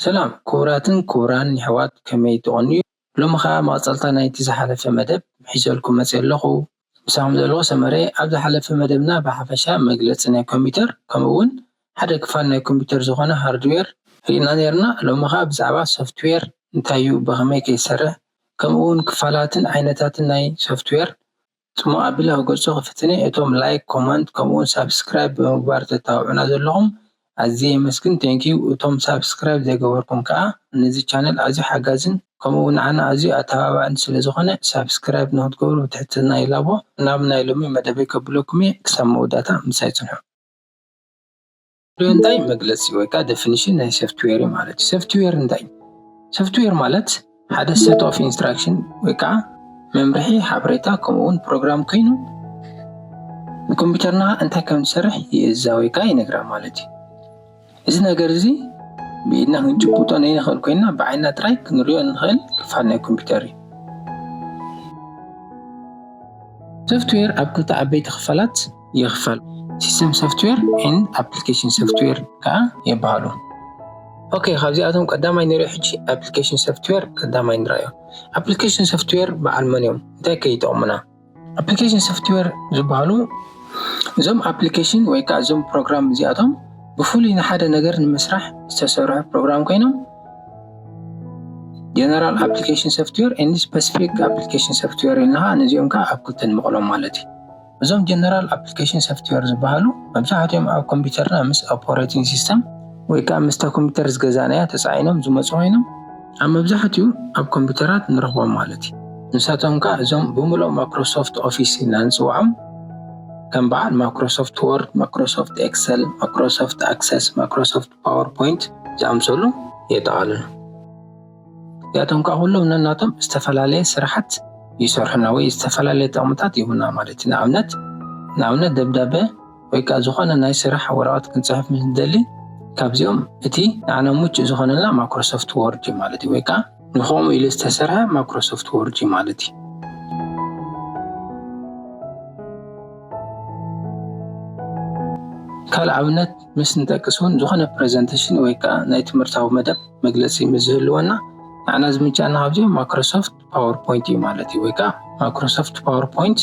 ሰላም ክቡራትን ክቡራን የሕዋት ከመይ ትቐንዩ ሎሚ ከኣ መቐጸልታ ናይቲ ዝሓለፈ መደብ ሒዘልኩም መጺኤ ኣለኹ ምሳኹም ዘለኹ ሰመረ እየ። ኣብ ዝሓለፈ መደብና ብሓፈሻ መግለጺ ናይ ኮምፒተር ከምኡ'ውን ሓደ ክፋል ናይ ኮምፒተር ዝኾነ ሃርድዌር ርኢና ኔርና። ሎሚ ከኣ ብዛዕባ ሶፍትዌር እንታይ'ዩ ብኸመይ ከ ይሰርሕ ከምኡ'ውን ክፋላትን ዓይነታትን ናይ ሶፍትዌር ጽሙቕ ኣቢለ ክገልጾ ክፍትን እየ። እቶም ላይክ፣ ኮመንት ከምኡ'ውን ሳብስክራይብ ብምግባር ተተባብዑና ዘለኹም ኣዝየ የመስግን thank you እቶም ሳብስክራይብ ዘይገበርኩም ከኣ ነዚ ቻነል ኣዝዩ ሓጋዝን ከምኡ ውን ንዓና ኣዝዩ ኣተባባዕን ስለ ዝኾነ ሳብስክራይብ ንኽትገብሩ ብትሕትና ይላቦ ናብ ናይ ሎሚ መደበይ ከብለኩም እየ ክሳብ መወዳእታ ምሳይ ጽንሑ። ሶፍትዌር እንታይ መግለጺ ወይ ከኣ ደፊኒሽን ናይ ሶፍትዌር እዩ ማለት እዩ። ሶፍትዌር እንታይ እዩ? ሶፍትዌር ማለት ሓደ ሴት ኦፍ ኢንስትራክሽን ወይ ከዓ መምርሒ ሓበሬታ ከምኡ እውን ፕሮግራም ኮይኑ ንኮምፒውተርና እንታይ ከም ዝሰርሕ ይእዛ ወይ ከዓ ይነግራ ማለት እዩ እዚ ነገር እዚ ብኢድና ክንጭብጦ ነይንኽእል ኮይና ብዓይና ጥራይ ክንሪኦ እንኽእል ክፋል ናይ ኮምፒውተር እዩ ሶፍትዌር ኣብ ክልተ ዓበይቲ ክፋላት ይኽፈል። ሲስተም ሶፍትዌር ን ኣፕሊኬሽን ሶፍትዌር ከኣ የበሃሉ። ኦኬ ካብዚኣቶም ቀዳማይ ንሪኦ ሕጂ ኣፕሊኬሽን ሶፍትዌር ቀዳማይ ንረኣዮ። ኣፕሊኬሽን ሶፍትዌር በዓል መን እዮም እንታይ ከ ይጠቕሙና? ኣፕሊኬሽን ሶፍትዌር ዝበሃሉ እዞም ኣፕሊኬሽን ወይ ከዓ እዞም ፕሮግራም እዚኣቶም ብፍሉይ ንሓደ ነገር ንምስራሕ ዝተሰርሑ ፕሮግራም ኮይኖም ጀነራል ኣፕሊኬሽን ሶፍትዌር ን ስፐሲፊክ ኣፕሊኬሽን ሶፍትዌር ኢልና ነዚኦም ከዓ ኣብ ክልተ ንመቕሎም ማለት እዩ። እዞም ጀነራል ኣፕሊኬሽን ሶፍትዌር ዝበሃሉ መብዛሕትኦም ኣብ ኮምፒውተርና ምስ ኦፐሬቲንግ ሲስተም ወይ ከዓ ምስታ ኮምፒውተር ዝገዛእናያ ተፃዒኖም ዝመፁ ኮይኖም ኣብ መብዛሕትኡ ኣብ ኮምፒውተራት ንረኽቦም ማለት እዩ። ንሳቶም ከዓ እዞም ብምልኦም ማክሮሶፍት ኦፊስ ኢልና ንፅውዖም ከም በዓል ማክሮሶፍት ወርድ፣ ማክሮሶፍት ኤክሰል፣ ማክሮሶፍት ኣክሰስ፣ ማክሮሶፍት ፓወር ፖይንት ዝኣምሰሉ የጠቓልሉ። እዚኣቶም ከዓ ኩሎም ነናቶም ዝተፈላለየ ስራሓት ይሰርሑና ወይ ዝተፈላለየ ጥቕምታት ይህቡና ማለት እዩ። ንኣብነት ንኣብነት ደብዳበ ወይ ከዓ ዝኾነ ናይ ስራሕ ወረቐት ክንፅሕፍ ምስ ንደሊ ካብዚኦም እቲ ንዓና ምቹእ ዝኾነና ማይክሮሶፍት ወርድ እዩ ማለት እዩ። ወይ ከዓ ንከምኡ ኢሉ ዝተሰርሐ ማይክሮሶፍት ወርድ እዩ ማለት እዩ። ካልእ ኣብነት ምስ ንጠቅስ እውን ዝኾነ ፕረዘንተሽን ወይ ከዓ ናይ ትምህርታዊ መደብ መግለፂ ምስ ዝህልወና ንዓና ዝምንጨና ካብዚኦም ማይክሮሶፍት ፓወርፖይንት እዩ ማለት እዩ። ወይ ከዓ ማይክሮሶፍት ፓወርፖይንት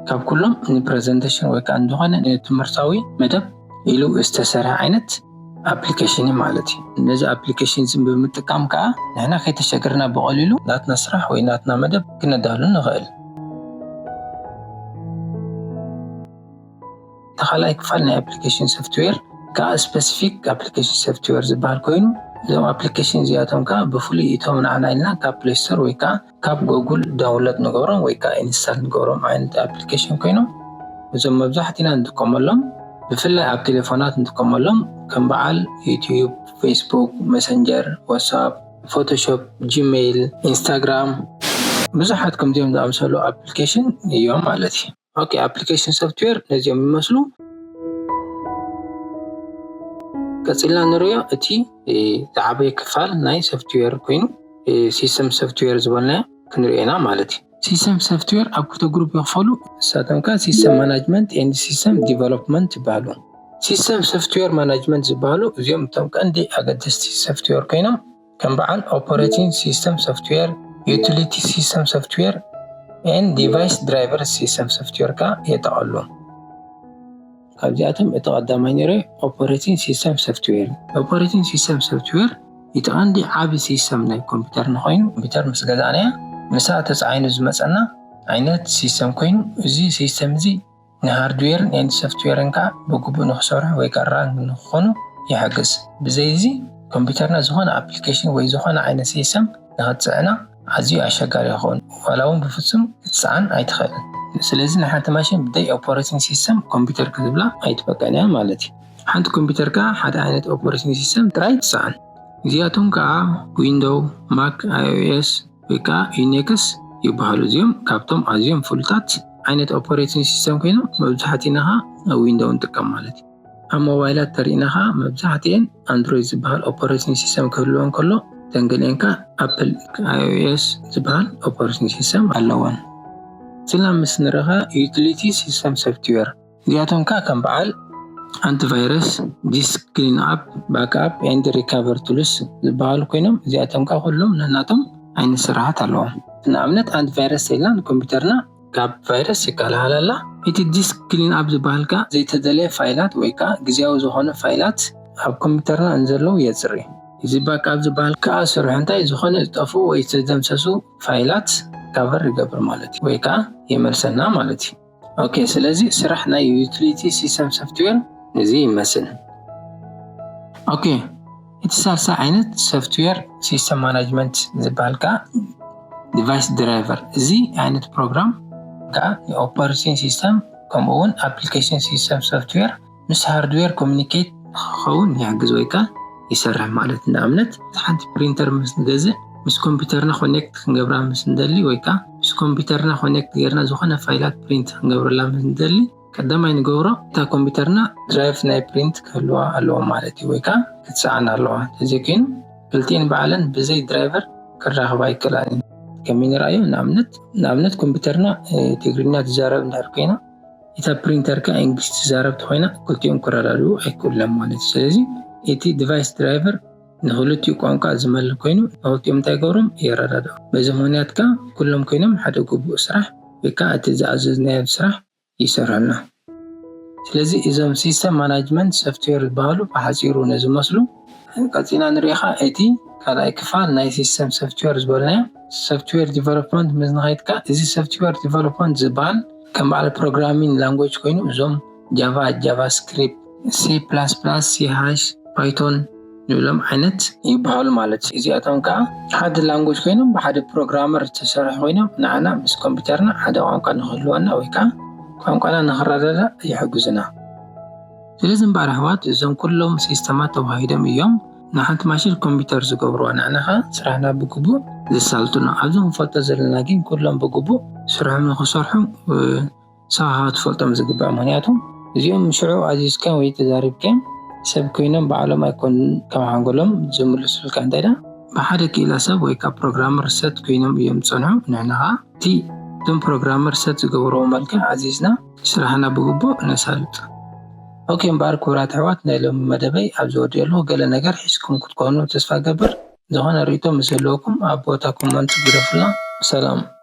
ካብ ኩሎም ንፕረዘንተሽን ወይ ከዓ ንዝኾነ ንትምህርታዊ መደብ ኢሉ ዝተሰርሐ ዓይነት ኣፕሊኬሽን እዩ ማለት እዩ። ነዚ ኣፕሊኬሽን እዚ ብምጥቃም ከዓ ንሕና ከይተሸገርና ብቐሊሉ ናትና ስራሕ ወይ ናትና መደብ ክነዳሉ ንኽእል። እቲ ካልኣይ ክፋል ናይ ኣፕሊኬሽን ሶፍትዌር ከኣ ስፐሲፊክ ኣፕሊኬሽን ሶፍትዌር ዝበሃል ኮይኑ እዞም ኣፕሊኬሽን እዚኣቶም ከኣ ብፍሉይ እቶም ንዓና ኢልና ካብ ፕሌይ ስቶር ወይ ከኣ ካብ ጎጉል ዳውንሎድ ንገብሮም ወይ ከኣ ኢንስታል ንገብሮም ዓይነት ኣፕሊኬሽን ኮይኖም እዞም መብዛሕትና ንጥቀመሎም ብፍላይ ኣብ ቴሌፎናት ንጥቀመሎም ከም በዓል ዩትዩብ፣ ፌስቡክ፣ መሰንጀር፣ ዋትስኣፕ፣ ፎቶሾፕ፣ ጂሜይል፣ ኢንስታግራም ብዙሓት ከምዚኦም ዝኣምሰሉ ኣፕሊኬሽን እዮም ማለት እዩ። ኦኬ ኣፕሊኬሽን ሶፍትዌር ነዚኦም ይመስሉ ቀፂልና ንሪኦ እቲ ዝዓበየ ክፋል ናይ ሶፍትዌር ኮይኑ ሲስተም ሶፍትዌር ዝበልናዮ ክንሪኦ ኢና ማለት እዩ ሲስተም ሶፍትዌር ኣብ ክልተ ግሩፕ ይኽፈሉ ንሳቶም ከ ሲስተም ማናጅመንት ኤንድ ሲስተም ዲቨሎፕመንት ይበሃሉ ሲስተም ሶፍትዌር ማናጅመንት ዝበሃሉ እዚኦም እቶም ቀንዲ ኣገደስቲ ሶፍትዌር ኮይኖም ከም በዓል ኦፐረቲን ሲስተም ሶፍትዌር፣ ዩቲሊቲ ሲስተም ሶፍትዌር፣ ን ዲቫይስ ድራይቨር ሲስተም ሶፍትዌር ከኣ የጠቐሉ። ካብዚኣቶም እቲ ቀዳማይ ነይሩ ኦፐረቲን ሲስተም ሶፍትዌር እዩ። ኦፐረቲን ሲስተም ሶፍትዌር እቲ ቀንዲ ዓቢ ሲስተም ናይ ኮምፒተርና ኮይኑ፣ ኮምፒተር ምስ ገዛእናያ ምስኣ ተጻዒኑ ዝመጸና ዓይነት ሲስተም ኮይኑ እዚ ሲስተም እዚ፣ ንሃርድዌርን ኤንድ ሶፍትዌርን ከኣ ብግቡእ ንኽሰርሑ ወይ ከኣ ራን ንኽኾኑ ይሕግዝ። ብዘይ እዚ ኮምፒተርና ዝኾነ ኣፕሊኬሽን ወይ ዝኾነ ዓይነት ሲሰም ንኽትጽዕና ኣዝዩ ኣሸጋሪ ይኸውን ዋላ እውን ብፍጹም ክትጽዓን ኣይትኽእልን። ስለዚ ንሓንቲ ማሽን ብደይ ኦፖረቲንግ ሲሰም ኮምፒተር ክትብላ ኣይትበቅዕን እያ ማለት እዩ። ሓንቲ ኮምፒተር ከኣ ሓደ ዓይነት ኦፖረቲንግ ሲሰም ጥራይ ትጽዕን። እዚኣቶም ከኣ ዊንዶው፣ ማክ፣ ኣይኦኤስ፣ ወይ ከኣ ዩኔክስ ይበሃሉ። እዚኦም ካብቶም ኣዝዮም ፍሉጣት ዓይነት ኦፐሬቲን ሲስተም ኮይኖም መብዛሕቲና ከኣ ዊንዶው ንጥቀም ማለት እዩ። ኣብ ሞባይላት ተሪእና ከኣ መብዛሕቲኤን ኣንድሮይድ ዝበሃል ኦፐሬቲን ሲስተም ክህልወን ከሎ እተን ገሊኤን ከኣ ኣፕል፣ IOS፣ ዝበሃል ኦፐሬቲን ሲስተም ኣለወን። ስላም ምስ ንረከ ዩቲሊቲ ሲስተም ሶፍትዌር እዚኣቶም ከኣ ከም በዓል ኣንቲ ቫይረስ፣ ዲስክ ክሊን ኣፕ፣ ባክ ኣፕ ኤንድ ሪካቨር ቱልስ ዝበሃሉ ኮይኖም እዚኣቶም ከኣ ኩሎም ነናቶም ዓይነት ስርሓት ኣለዎም። ንኣብነት ኣንቲ ቫይረስ ሰሊና ንኮምፒተርና ካብ ቫይረስ ይከላኸላ ኣላ። እቲ ዲስክ ክሊን ኣፕ ዝበሃል ከኣ ዘይተደለየ ፋይላት ወይ ከኣ ግዝያዊ ዝኾኑ ፋይላት ኣብ ኮምፒተርና እንዘለዉ የጽሪ። እዚ ባክ ኣፕ ዝበሃል ከኣ ስርሑ እንታይ ዝኾነ ዝጠፍኡ ወይ ዝተደምሰሱ ፋይላት ሪካቨር ይገብር ማለት እዩ ወይ ከኣ የመልሰና ማለት እዩ። ኦኬ ስለዚ ስራሕ ናይ ዩቲሊቲ ሲስተም ሶፍትዌር እዚ ይመስል። ኦኬ እቲ ሳልሳይ ዓይነት ሶፍትዌር ሲስተም ማናጅመንት ዝበሃል ከዓ ዲቫይስ ድራይቨር እዚ ዓይነት ፕሮግራም ከዓ ኦፐሬቲንግ ሲስተም ከምኡ እውን ኣፕሊኬሽን ሲስተም ሶፍትዌር ምስ ሃርድዌር ኮሚኒኬት ንክኸውን ይሕግዝ ወይ ከኣ ይሰርሕ ማለት እዩ። ንኣብነት ሓንቲ ፕሪንተር ምስ ንገዝእ ምስ ኮምፒተርና ኮኔክት ክንገብራ ምስ ንደሊ ወይ ከኣ ምስ ኮምፒተርና ኮኔክት ጌርና ዝኾነ ፋይላት ፕሪንት ክንገብረላ ምስ ንደሊ ቀዳማይ ንገብሮ እታ ኮምፒተርና ድራይቭ ናይ ፕሪንት ክህልዋ ኣለዎ ማለት እዩ ወይ ከኣ ክትሰኣን ኣለዋ ተዘይ ኮይኑ ክልቲኤን ባዕለን ብዘይ ድራይቨር ክራኸባ ኣይክእላን እየን። ከመይ ንርኣዮ ንኣብነት ንኣብነት ኮምፒተርና ትግርኛ ትዛረብ እንድሕር ኮይና፣ እታ ፕሪንተር ከኣ ኢንግሊሽ ትዛረብ ተኾይና ክልቲኦም ክረዳድኡ ኣይክእሉን ማለት እዩ። ስለዚ እቲ ዲቫይስ ድራይቨር ንክልቲኡ ቋንቋ ዝመል ኮይኑ ንክልቲኦም እንታይ ይገብሮም የረዳድኦም። በዚ ምኽንያት ከኣ ኩሎም ኮይኖም ሓደ ግቡእ ስራሕ ወይ ከኣ እቲ ዝኣዘዝናዮ ስራሕ ይሰርሑልና። ስለዚ እዞም ሲስተም ማናጅመንት ሶፍትዌር ዝበሃሉ ብሓጺሩ ነዚ መስሉ። ቀጺልና ንርኢኻ እቲ ካልኣይ ክፋል ናይ ሲስተም ሶፍትዌር ዝበልናዮ ሶፍትዌር ዲቨሎፕመንት ምስ ንኸይድካ እዚ ሶፍትዌር ዲቨሎፕመንት ዝበሃል ከም በዓል ፕሮግራሚን ላንጎጅ ኮይኑ እዞም ጃቫ ጃቫስክሪፕት ሲ ፕላስ ፕላስ ሲ ሃሽ ፓይቶን ንብሎም ዓይነት ይበሃሉ ማለት እዩ እዚኣቶም ከዓ ሓደ ላንጎጅ ኮይኖም ብሓደ ፕሮግራመር ዝተሰርሑ ኮይኖም ንዓና ምስ ኮምፒውተርና ሓደ ቋንቋ ንክህልወና ወይ ከዓ ቋንቋና ንክረዳዳእ ይሕግዙና ስለዚ እምበኣር ኣሕዋት እዞም ኩሎም ሲስተማት ተዋሂዶም እዮም ንሓንቲ ማሽን ኮምፒተር ዝገብርዋ ንሕና ከኣ ስራሕና ብግቡእ ዘሳልጡና ኣብዚ ክንፈልጦ ዘለና ግን ኩሎም ብግቡእ ስርሖም ንክሰርሑ ሳሃሃ ትፈልጦም ዝግባእ ምክንያቱ እዚኦም ሽዑ ኣዚዝካ ወይ ተዛሪብካ ሰብ ኮይኖም ባዕሎም ኣይኮኑን ካብ ሓንጎሎም ዝምልሱልካ እንተዳ ብሓደ ክኢላ ሰብ ወይ ካብ ፕሮግራመር ሰት ኮይኖም እዮም ዝጸንሑ ንሕና ከኣ እቲ እቶም ፕሮግራመር ሰት ዝገበርዎ መልክዕ ኣዚዝና ስራሕና ብግቡእ ነሳልጥ። ኦኬ እምበኣር ክቡራት ኣሕዋት ናይ ሎሚ መደበይ ኣብዚ ወዲኤሉ ገለ ነገር ሒዝኩም ክትኮኑ ተስፋ እገብር ዝኾነ ሪኢቶ ምስ ዝህልወኩም ኣብ ቦታ ኮመንት ግደፉልና ሰላም።